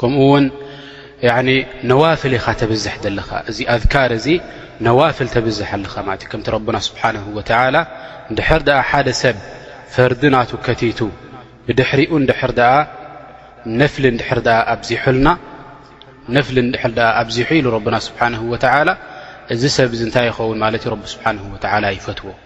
ከምኡ ውን ነዋፍል ኢኻ ተብዝሕ ዘለኻ እዚ ኣذካር እዚ ነዋፍል ተብዝሕ ኣለኻ ማለት እዩ ከምቲ ረብና ስብሓንه ወተላ ድሕር ድኣ ሓደ ሰብ ፈርዲ ናቱ ከቲቱ ብድሕሪኡ ድር ኣ ነፍሊ ድር ኣ ኣብዚሑልና ነፍሊ ድር ኣ ኣብዚሑ ኢሉ ረብና ስብሓንه ወተላ እዚ ሰብ እዚ እንታይ ይኸውን ማለት እዩ ረቢ ስብሓንه ወተላ ይፈትዎ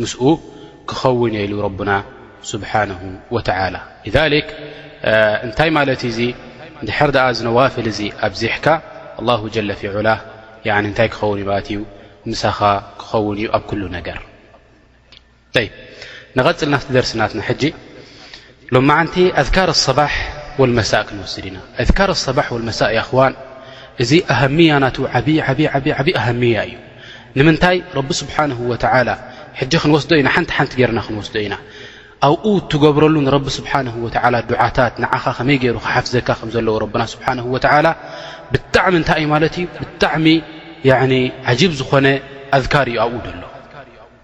ምስኡ ክኸውን እየ ኢሉ ረቡና ስብሓነሁ ወተዓላ። ሊዛሊክ እንታይ ማለት እዩ እዚ እንድሕር ደኣ እዚ ነዋፍል እዚ ኣብዚሕካ ኣላሁ ጀለ ፊ ዑላህ ያዕኒ እንታይ ክኸውን እዩ ማለት እዩ ምሳኻ ክኸውን እዩ ኣብ ኩሉ ነገር። ጠይብ ንቐጽል ናብቲ ደርሲ ናትና ሕጂ። ሎማዓንቲ ኣذካር ኣصባሕ ወልመሳእ ክንወስድ ኢና ኣذካር ኣصባሕ ወልመሳእ ያኣኽዋን እዚ ኣሃምያ ናቱ ዓብዪ ዓብዪ ዓብዪ ዓብዪ ኣሃምያ እዩ ንምንታይ ረቢ ስብሓንሁ ወተዓላ ሕጂ ክንወስዶ ኢና ሓንቲ ሓንቲ ገይርና ክንወስዶ ኢና ኣብኡ እትገብረሉ ንረቢ ስብሓንሁ ወተዓላ ዱዓታት ንዓኻ ከመይ ገይሩ ክሓፍዘካ ከም ዘለዎ ረብና ስብሓንሁ ወተዓላ ብጣዕሚ እንታይ እዩ ማለት እዩ ብጣዕሚ ዓጂብ ዝኾነ ኣዝካር እዩ ኣብኡ ደሎ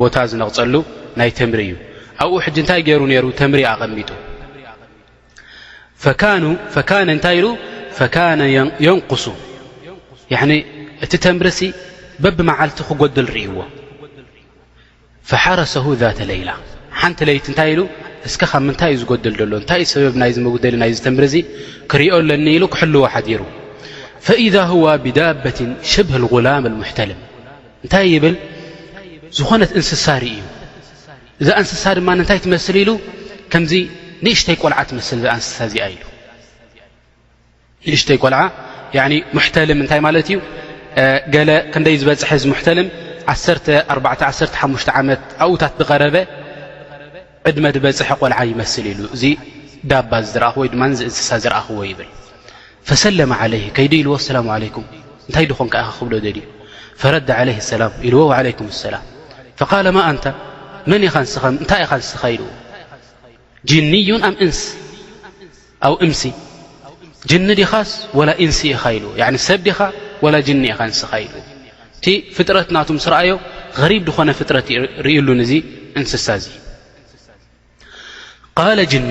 ቦታ ዝነቕጸሉ ናይ ተምሪ እዩ ኣብኡ ሕጂ እንታይ ገይሩ ነይሩ ተምሪ ኣቐሚጡ ፈካኑ ፈካነ እንታይ ኢሉ ፈካነ የንቁሱ እቲ ተምርሲ በብ መዓልቲ ክጎድል ርእይዎ ፈሓረሰሁ ዛተ ለይላ ሓንቲ ለይቲ እንታይ ኢሉ እስከ ካብ ምንታይ እዩ ዝጎድል ዘሎ እንታይ እዩ ሰበብ ናይዚ መጉደሊ ናይዚ ተምሪ እዚ ክሪኦ ኣለኒ ኢሉ ክሕልዎ ሓዲሩ ፈኢዛ ሁዋ ብዳበትን ሽብህ ጉላም ሙሕተልም እንታይ ይብል ዝኾነት እንስሳ ርእዩ እዛ እንስሳ ድማ እንታይ ትመስል ኢሉ ከምዚ ንእሽተይ ቆልዓ ትመስል እዛ እንስሳ እዚኣ ኢሉ ንእሽተይ ቆልዓ ሙሕተልም እንታይ ማለት እዩ ገለ ክንደይ ዝበፅሐ እዚ ሙሕተልም ዓተ ዓሓሙሽተ ዓመት ኣብኡታት ዝቐረበ ዕድመ ድበጽሐ ቆልዓ ይመስል ኢሉ እዚ ዳባ ዝረኣኹ ወይ ድማ እዚ እንስሳ ዝረኣኹዎ ይብል ፈሰለመ ዓለይህ ከይዱ ኢልዎ ኣሰላሙ ዓለይኩም እንታይ ድኾንካ ኢኻ ክብሎ ደልዩ ፈረድ ዓለይህ ኣሰላም ኢልዎ ዓለይኩም ኣሰላም ፈቃለ ማ ኣንታ መን ኢኻ ንስኻ እንታይ ኢኻ ንስኻ ኢልዎ ጅንዩን ኣም እንስ ኣው እምሲ ጅኒ ዲኻስ ወላ ኢንሲ ኢኻ ኢሉ ያኒ ሰብ ዲኻ ወላ ጅኒ ኢኻ እንስኻ ኢሉ እቲ ፍጥረት ናቱ ምስ ረኣዮ ሪብ ድኾነ ፍጥረት ርእሉ ንዙ እንስሳ እዙ ቃለ ጅኒ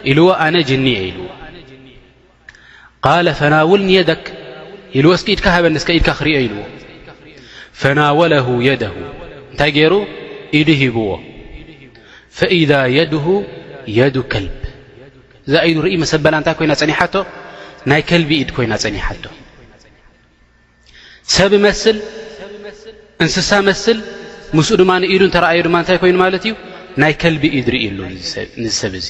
ኢልዎ ኣነ ጅኒ እየ ኢልዎ ቃለ ፈናውልኒ የደክ ኢልዎ እስኪ ኢድካ ሃበኒ እስከ ኢድካ ክርዮ ኢልዎ ፈናወለሁ የደሁ እንታይ ገይሩ ኢዱ ሂብዎ ፈኢዛ የድሁ የዱ ከልብ እዛ ኢዱ ርእይ መሰበላ እንታይ ኮይና ጸኒሓቶ ናይ ከልቢ ኢድ ኮይና ጸኒሓቶ ሰብ መስል እንስሳ መስል ምስኡ ድማ ንኢዱ እንተረኣዮ ድማ እንታይ ኮይኑ ማለት እዩ ናይ ከልቢ ኢድ ርእዩ ኣሎ ንሰብ እዙ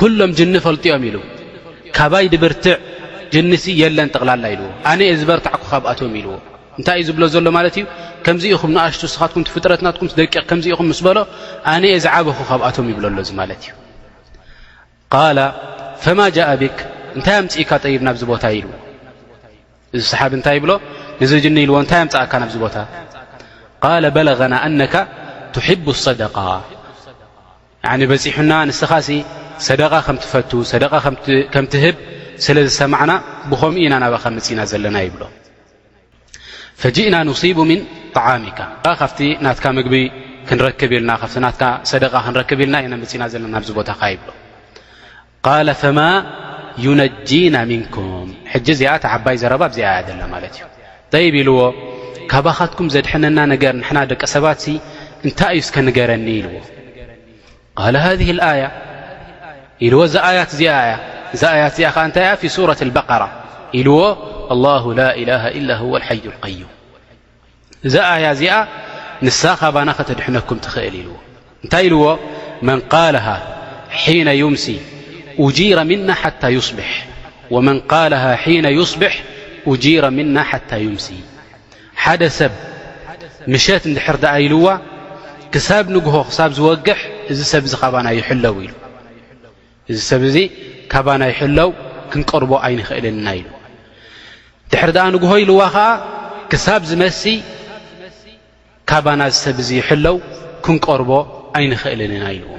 ኩሎም ጅኒ ፈልጥዮም ኢሉ ካባይ ድብርትዕ ጅኒሲ የለን ጠቕላላ ኢልዎ ኣነ እየ ዝበርታዕኩ ካብኣቶም ኢልዎ እንታይ እዩ ዝብሎ ዘሎ ማለት እዩ ከምዚ ኢኹም ንኣሽቱ ስኻትኩም ፍጥረት ናትኩም ደቂቕ ከምዚ ኢኹም ምስ በሎ ኣነ እየ ዝዓበኹ ካብኣቶም ይብሎ ኣሎ እዚ ማለት እዩ ቃላ ፈማ ጃእ ቢክ እንታይ ኣምፅእካ ጠይብ ናብዚ ቦታ ኢልዎ እዚ ሰሓብ እንታይ ይብሎ ንዚ ጅኒ ኢልዎ እንታይ ኣምፅእካ ናብዚ ቦታ ቃለ በለغና ኣነካ ትሕቡ صደቃ ያኒ በጺሑና ንስኻሲ ሰደቓ ከም ትፈቱ ሰደቓ ከም ትህብ ስለ ዝሰማዕና ብኸምኡ ኢና ናባኻ መጺእና ዘለና ይብሎ ፈጅእና ኑሲቡ ምን ጣዓሚካ ካብቲ ናትካ ምግቢ ክንረክብ ኢልና ካብቲ ናትካ ሰደቓ ክንረክብ ኢልና ኢና መጺእና ዘለና ኣብዚ ቦታኻ ይብሎ ቃለ ፈማ ዩነጂና ምንኩም ሕጂ እዚኣ እቲ ዓባይ ዘረባ ኣብዚኣ እያ ዘላ ማለት እዩ ጠይብ ኢልዎ ካባኻትኩም ዘድሐነና ነገር ንሕና ደቂ ሰባት ሲ እንታይ እዩ እስከ ንገረኒ ኢልዎ ቃለ ሃذ ኣያ ኢልዎ እዛ ኣያት እዚኣ እያ እዛ ኣያት እዚኣ ከዓ እንታይ እያ ፊ ሱረት በቀራ ኢልዎ ኣላሁ ላ ኢላሃ ኢላ ሁወ ሓዩ ቀዩም እዛ ኣያ እዚኣ ንሳ ካባና ከተድሕነኩም ትኽእል ኢልዎ እንታይ ኢልዎ መን ቃልሃ ሒነ ዩምሲ ኡጂረ ምና ሓታ ዩስብሕ ወመን ቃልሃ ሒነ ዩስብሕ ኡጂረ ምና ሓታ ዩምሲ ሓደ ሰብ ምሸት እንድሕር ደኣ ኢልዋ ክሳብ ንግሆ ክሳብ ዝወግሕ እዚ ሰብ እዚ ካባና ይሕለው ኢሉ እዚ ሰብ እዚ ካባና ይሕለው ክንቀርቦ ኣይንኽእልን ኢና ኢሉ ድሕሪ ደኣ ንግሆ ኢልዋ ኸዓ ክሳብ ዝመሲ ካባና እዚ ሰብ እዚ ይሕለው ክንቀርቦ ኣይንኽእልን ኢና ኢልዎ